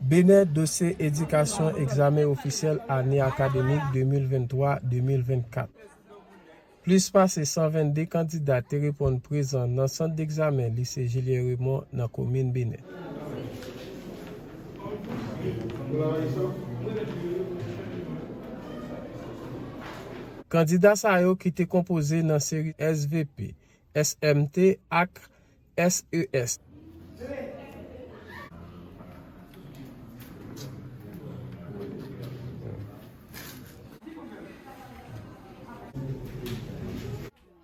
Benè, Dosye Edikasyon Egzamen Ofisyèl Ane Akademik 2023, 2024 Plis pase 122 kandida te reponn prezan nan sant degzamen Lise Julien Raymond nan komin Benè. Kandida sa yo ki te konpoze nan seri svp, SMT ak.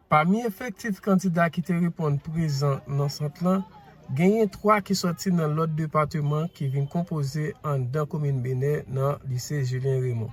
Pami efektif kandida ki te reponn prezan nan sant lan, genyen 3 ki sòti nan lòt depateman ki vin konpoze anndan komin Benè nan lise Julien Raymond.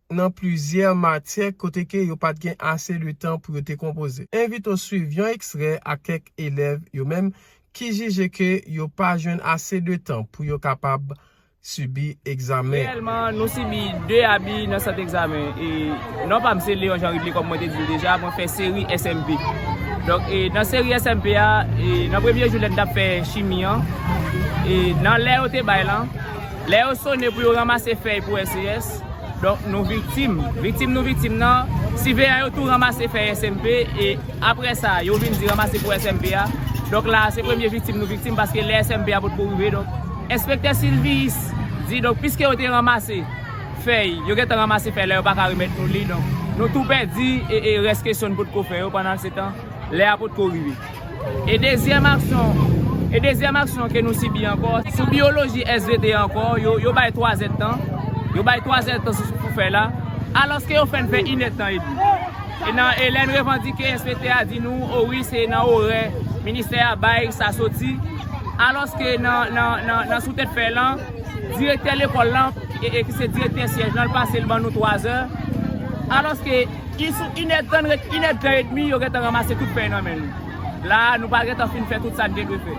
nan plizyè matyè kote ke yo pat gen ase de tan pou yo te konpoze. Envite w swiv yon ekstrè ak kèk elèv yo menm ki jije ke yo pa jwenn ase de tan pou yo kapab sibi egzamen an. Reyèlman, nou sibi 2 abi nan sant egzamen. E, non pa m se Léon Jean Ridley kòm mwen te di w deja, mwen fè seri SMP. Donk, e, nan seri SMP a, e, nan premye jou lè n t ap fè chimi an, e, nan lè yo te bay lan, lè yo sone pou yo ranmase fèy pou SES, Donk nou viktim, viktim nou viktim nan, siveyan yo tou ranmase fèy SMP e apre sa yo vin di ranmase pou SMP a, donk la se premye viktim nou viktim paske lè SMP a potko rive donk enspektè Silviyis di donk piske yo te ranmase fèy, yo gentan ranmase fèy la yo pa ka remèt nou li donk nou tou pèdi e rès kesyon nou potko fè yo pandan se tan lè a potko rive. E dezyèm aksyon E dezyèm aksyon ke nou sibi ankò Sou biyoloji svp ankò Yo bay 3 zèd tan Yo bay 3 zèd tan sou pou fè la Alòske yo fè n fè 1 èd tan edmi E nan e lè n revandike svp a di nou O wi se nan orè ministè a bay sa soti Alòske nan nan nan nan sou tèt fè lan Direktè lekòl lan e ki se direktè syèj lan l pase l ban nou 3 zè Alòske Ki sou inèdtan ret inèdtan edmi yo gentan ranmase tout peny nan men nou. La a nou pa gentan fin fè tout sa n te dwe fè.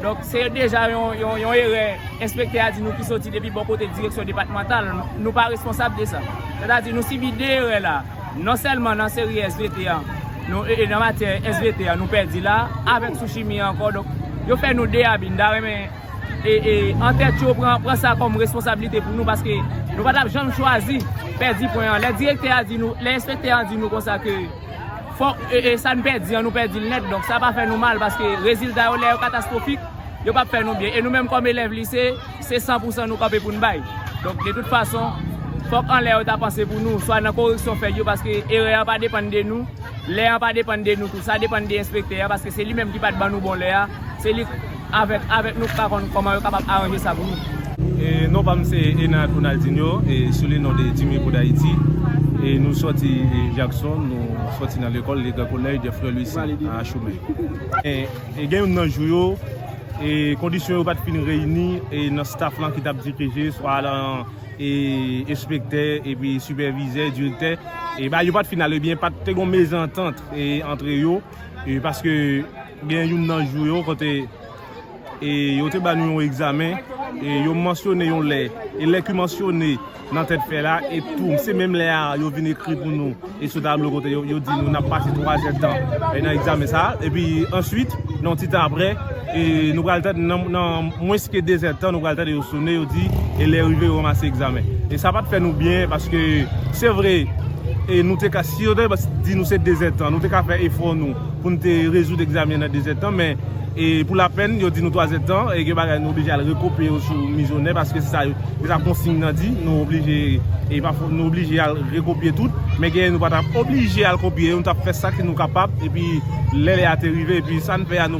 Donk se deja yon erè enspektè a di nou ki soti depi bò kote direksyon depatmantal. Nou pa responsab de sa. Sètadi nou sibi 2 erè la a. Non sèlman nan seri svt an, nan matyè svt an nou pèdi la a, avèk sou chimi an ankò. Donk yo fè nou 2 abi. M ta renmen. an tèt yo pran sa kòm responsabilite pou nou paske nou pa tap janm chwazi pèdi pwen an. Lè direktè a di nou, lè enspektè a di nou konsa ke fòk sa n pèdi an nou pèdi l nèt donk sa pa fè nou mal paske rezilta yo lè yo katastwofik yo pap fè nou byen e nou menm kòm elèv lise se san pou san nou kanpe pou n bay. Donk de tout fason fòk anlè yo ta panse pou nou swa nan koreksyon fè yo paske erè an pa depann de nou lè an pa depann de nou tou sa depann de enspektè a paske se li menm ki pat ban nou bon lè a se li. Avek avek nou pa konn koman yo kapab aranje sa pou nou. Non pam se Enard Ronaldinho sou le non de Dime pou Dayiti e nou soti Jakson nou soti nan lekol le gran kolèj de frè Lwisi a Achoumen e gen youn nan jou yo e kondisyon yo pat fin reyini e nan staf lan ki tap dirije swa lan e espektè e pi sipèvizè direktè e ba yo pat fin ale byen pat te gon mezantant e antre yo. e paske gen youn nan jou yo kote e yo te ba nou yon egzamen e yo mansyone yon lè e lè ki mansyone nan tèt fèy la e tou se menm lè a yo vin ekri pou nou e sou tablo kote yo di nou nap pase 3 zètan nan egzamen sa e pi answit nan ti tan aprè E nou pral tande nan mwens ke 2 zè tan nou pral tande yo sone yo di e lè rive yo ranmase egzamen. E sa pat fè nou byen paske se vre e nou te ka si yo te di nou se 2 zè tan nou te ka fè efò nou pou nou te rezoud egzamyen nan 2 zè tan men e pou lapenn yo di nou 3 zè tan e gen bagay nou oblije al rekopye yo sou mizonè paske se sa yo se sa konsign nan di nou oblije e pa fo nou oblije al rekopye tout men genyen nou pa ta oblije al kopye yo nou tap fè sa ki nou kapab epi lè lè a te rive epi sa n fè a nou.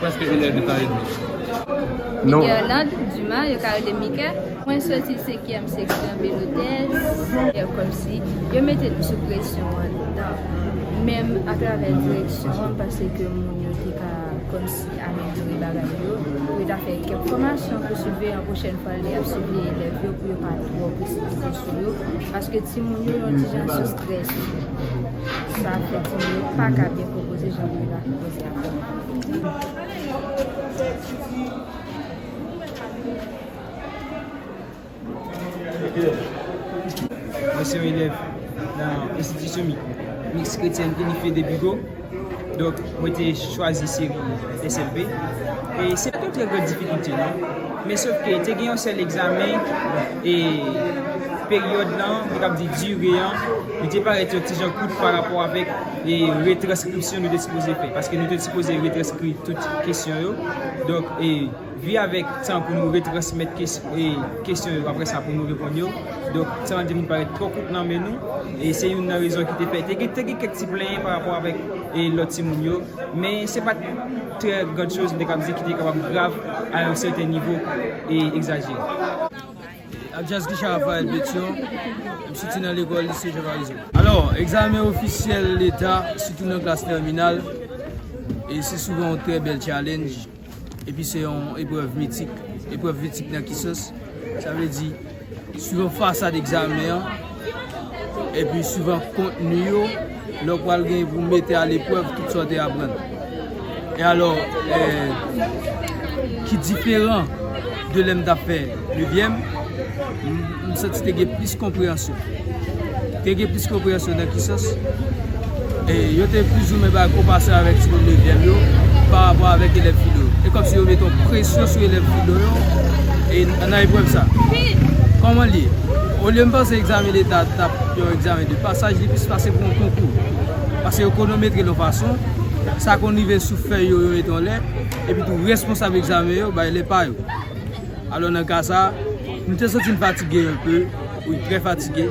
Preske 1 è de tan edmi. Mikerland Dumas, yo ka rele Mike, mwen soti senkyèm seksyon Belotès. Fè kòmsi yo mete nou sou presyon anndan menm atravè direksyon an pase ke moun yo te ka kòmsi amelyore bagay yo pou yo ta fè kèk fòmasyon pou siveyan pwochèn fwa lè y ap siveye elèv yo pou yo pa twò presipite sou yo paske timoun yo yon ti jan sou strès sa fè timoun yo pa ka byen konpoze jan yo ta konpoze a. Mwen se yon elèv nan enstitisyon miks kretyèn inifye de Bigo. Donk mwen te chwazi seri SLB. E se pa te yon trè gran difikilte non. Men sof ke te gen yon sèl egzamen e peryòd lan, mwen kab di dire an, li te parèt yon ti jan kout pa rapò avèk. E retranskripsyon nou te sipoze fè. Paske nou te sipoze retranskri tout kesyon yo. Donk, e vi avèk tan pou nou retransmèt kesyon yo apre sa pou nou reponn yo. Donk, tan an te vin parèt twò kout nan men nou. E se youn nan rezon ki te fè. Te gen kèk ti plenyen pa rapò avèk lòt timoun yo. Men se pa t trè grand chose m te kab di ki te kapab grav a yon sèten nivo e egzajere. Abjazz Guichard Raphaël Pétion, M soti nan lekòl Lycée Jean Marizot. Alò, egzamen ofisyèl leta, sitou nan klas tèminal, e se souvan yon trè bèl tchalennj, epi se yon eprèv mitik. Eprèv mitik nan ki sans? Sa vle di, souvan fasad egzamen an. epi suivan kontni yo lè ou pral gen pou mete a leprèv tout sa ou te aprann e alò ki diferan de lè m tap fè nevyèm m santi te gen plis konpreyansyon te gen plis konpreyansyon nan ki sans E yo te plisoumen bay konpasyon avèk timoun nevyèm yo parapò avèk elèv filo yo. E kòmsi yo mete yon presyon sou elèv filo yo nan eprèv sa a. Kòman li ye? Olye m panse egzamen leta t ap yon egzamen de pasaj, li plis pase pou yon konkou. Pase yo konometre l yon fason, sa konn rive sou fèy yo, yo mete yon lèt, epitou responsab egzamen yo bay lè pa yo. Alò nan ka sa a, nou te santi n fatige yon pe, wi, trè fatige.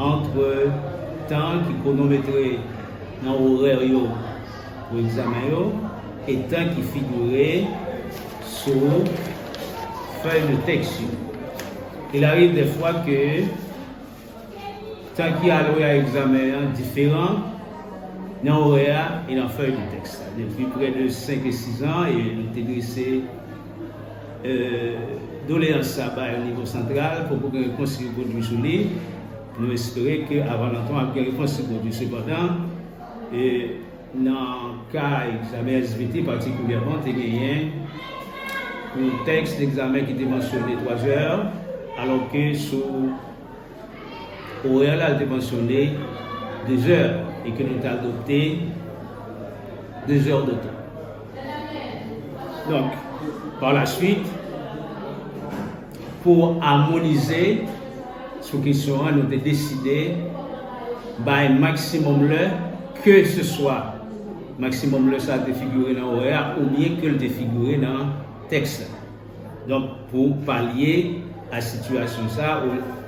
Antre tan ki kwonometre nan orè yo pou egzamen yo e tan ki figire sou fèy de tèks yo. Il arive dè fwa ke tan ki alwe a egzamen an diferan nan orè a e nan fèy de tèks la. Depi prè de 5 e 6 an, nou te drese. Doleyans sa bay o nivo santral, poko gen repons ki pwodwi sou li. Nou espere ke avan lontan ap gen repons ki pwodwi. Sepandan, nan ka egzamen svt patikulyèman, te genyen yon tèks egzamen ki te mansyone 3 zè, alò ke sou. Orè la te mansyone 2 zè e ke nou te adopte 2 zè de tan. Donk, pa la swit, pou amonize sou kesyon an, nou te deside bay maksimòm lè ke se swa maksimòm lè sa te figire nan orè a oubyen ke l te figire nan tèks la. Donk pou palye a sitiyasyon sa,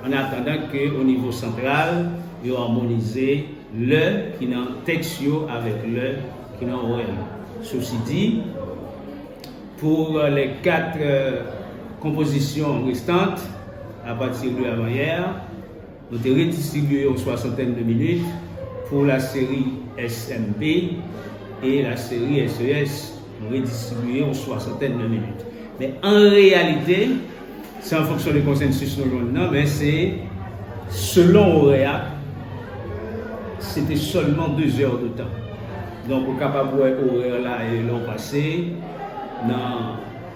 an atandan ke o nivo santral yo amonize lè ki nan tèks yo avèk lè ki nan orèl yo. Sosi di, pou lè kat konpozisyon restant, apati de avanyè a, Nou te redistribye yon swasantèn de minit pou laseri SMP e laseri SES. Nou redistribye yon swasantèn de minit. Men an reyalite, se an fonksyon de konsensis nou jwenn nan, men se selon orè a, se te sèlman 2 zè de tan. Donk ou kapab wè orè la e lè ou pase nan.